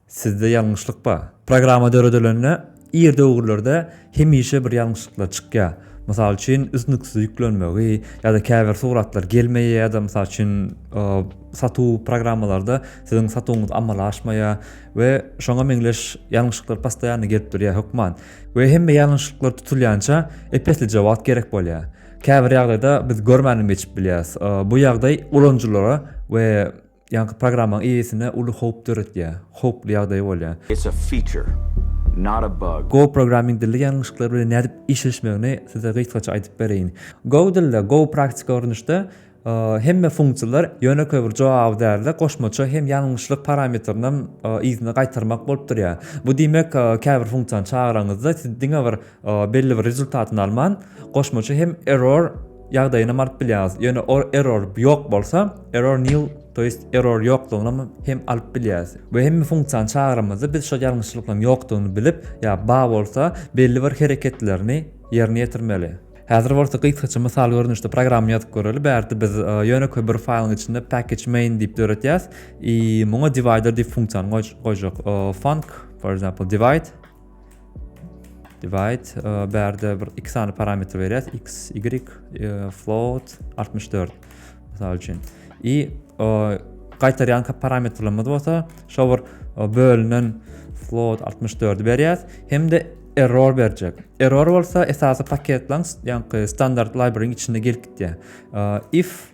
Sizde ýalňyşlyk bar. Programma döredilende ir döwürlerde hemişe bir ýalňyşlyklar çykýar. Mysal üçin üznüksiz ýüklenmegi ýa-da käbir suratlar gelmeýär ýa-da mysal üçin satuw programmalarda siziň satuwyňyz amala aşmaýar we şoňa meňzeş ýalňyşlyklar postoýanno gelip durýar hökman. We hemme ýalňyşlyklar tutulýança ep-eslije wagt gerek bolýar. Käbir ýagdaýda biz görmänem geçip bilýäris. Bu ýagdaý ulanyjylara we Ýaňky programmaň eýesine uly howp döretýär. Howply ýagdaý bolýar. It's a feature, not a bug. Go programming dili ýalňyşyklar bilen nädip işleşmegini size gysgaça aýdyp bereýin. Go dilde, go praktiki görnüşde hemme funksiýalar ýönekeý bir jogaby däl-de, goşmaça hem ýalňyşlyk parametrinam yzyna gaýtarmak bolup durýar. Bu diýmek, käbir funksiýany çagyranyňyzda siz diňe bir belli bir rezultatyny alman goşmaça hem error ýagdaýyna alyp bilýäňiz. Ýöne o error ýok bolsa, error nil, to ýest error ýoklugyna hem alyp bilýäs. We hem funksiýany çagyramyzda biz şol ýalňyşlyklaryň ýokdugyny bilip, ýa ba bolsa belli bir hereketlerini ýerine ýetirmeli. Häzir bolsa gysgaça mysal görnüşde programma ýazyp göreli. Bärde biz ýönekeý bir faýlyň içinde package main diýip döretýäs. I muňa divider diýip funksiýany goýjak. Func, for example, divide. Divide e, bärde bir iki sany parametr berýäs. X, y, e, float 64. Mysal üçin. I gaýtarýan parametrlerimiz bolsa, şo bir bölünen float 64 berýäs. Hem-de error berjek. Error bolsa esasy paketlaň, ýaňky standart library-nyň içinde gelip gitýär. If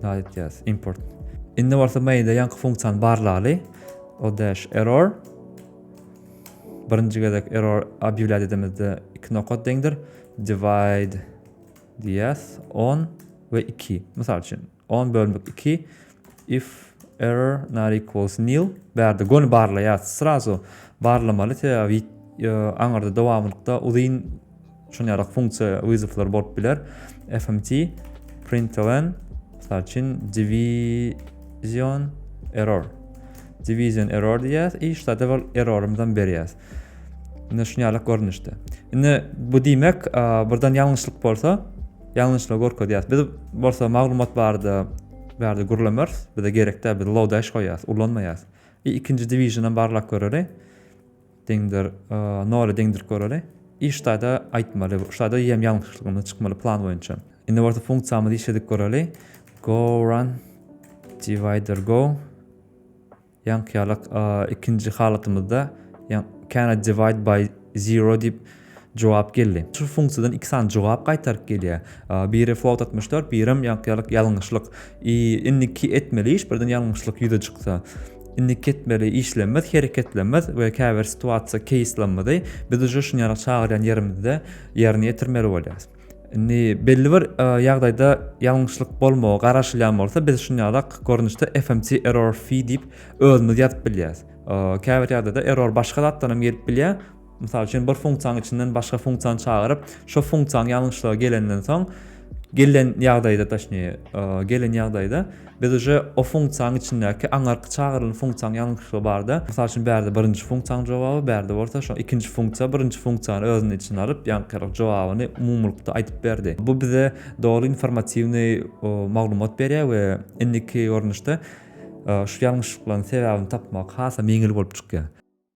Naýtýas import. Indi bolsa mailde ýaňky funksiýany barlaly. O dash error. Birinji gezek error obýewlýa dedimizde iki nokat deňdir. Divide diýýäs 10 we 2. Mysal üçin 10 bölmek 2. If error not equals nil bärde göni barlaýas srazu barlamaly sebäbi aňyrda dowamlykda uzyn şun ýarak funksiýa wyzywlar bolup biler fmt println mysal üçin division error division error diýýäs i ştada bol errorymyzam berýäs indi şun ýarak görnüşde indi bu diýmek birden ýalňyşlyk bolsa Ýalňyşlygy görkezýär. Biz bolsa maglumat barada bärde gürlemeris. Bize gerek däl, biz low dash goýýas, ulanmaýas. I ikinji divisionam barlap göreli. Deňdir, nole deňdirip göreli. I ştaýda aýtmaly, ştaýda ýem ýalňyşlygyny çykmaly plan boýunça. Indi bolsa funksiýamyzy işledip göreli. Go run divider go. Ýaňky ýaly ikinji halatymyzda cannot divide by zero diýip jogap geldi. Şu funksiýadan iki sany jogap gaýtaryp gelýär. Biri float altmyş dört, birem ýaňky ýaly ýalňyşlyk. Indiki etmeli iş birden ýalňyşlyk ýüze çyksa. Indiki etmeli işlemimiz hereketlemimiz we käbir situasiýa keýslamyzy biz uje şuny ýaly çagyrýan ýerimizde ýerine ýetirmeli bolýarys. Indi belli bir ýagdaýda ýalňyşlyk bolmagy garaşylýan bolsa, biz şunýalak görnüşde fmc error fee diýip özümiz ýazyp bilýäs. Käbir ýagdaýda error başga zatdan hem gelip bilýär. Mysal üçin bir funksiýanyň içinden başga funksiýany çagyryp, şo funksiýanyň ýalňyşlygy gelenden soň gelen ýagdaýda, taşnije, gelen ýagdaýda Biz uje o funksiýanyň içindäki aňyrky çagyrylan funksiýanyň ýalňyşlygy barda, mysal üçin bärde birinji funksiýanyň jogaby, bärde bolsa şo ikinji funksiýa birinji funksiýany özüniň içine alyp, ýaňkyrak jogabyny umumylykda aýdyp berdi. Bu bize doly informatiwnyý maglumat berýär we indiki görnüşde şu ýalňyşlyklaryň sebäbini tapmak hasam ýeňil bolup çykýar.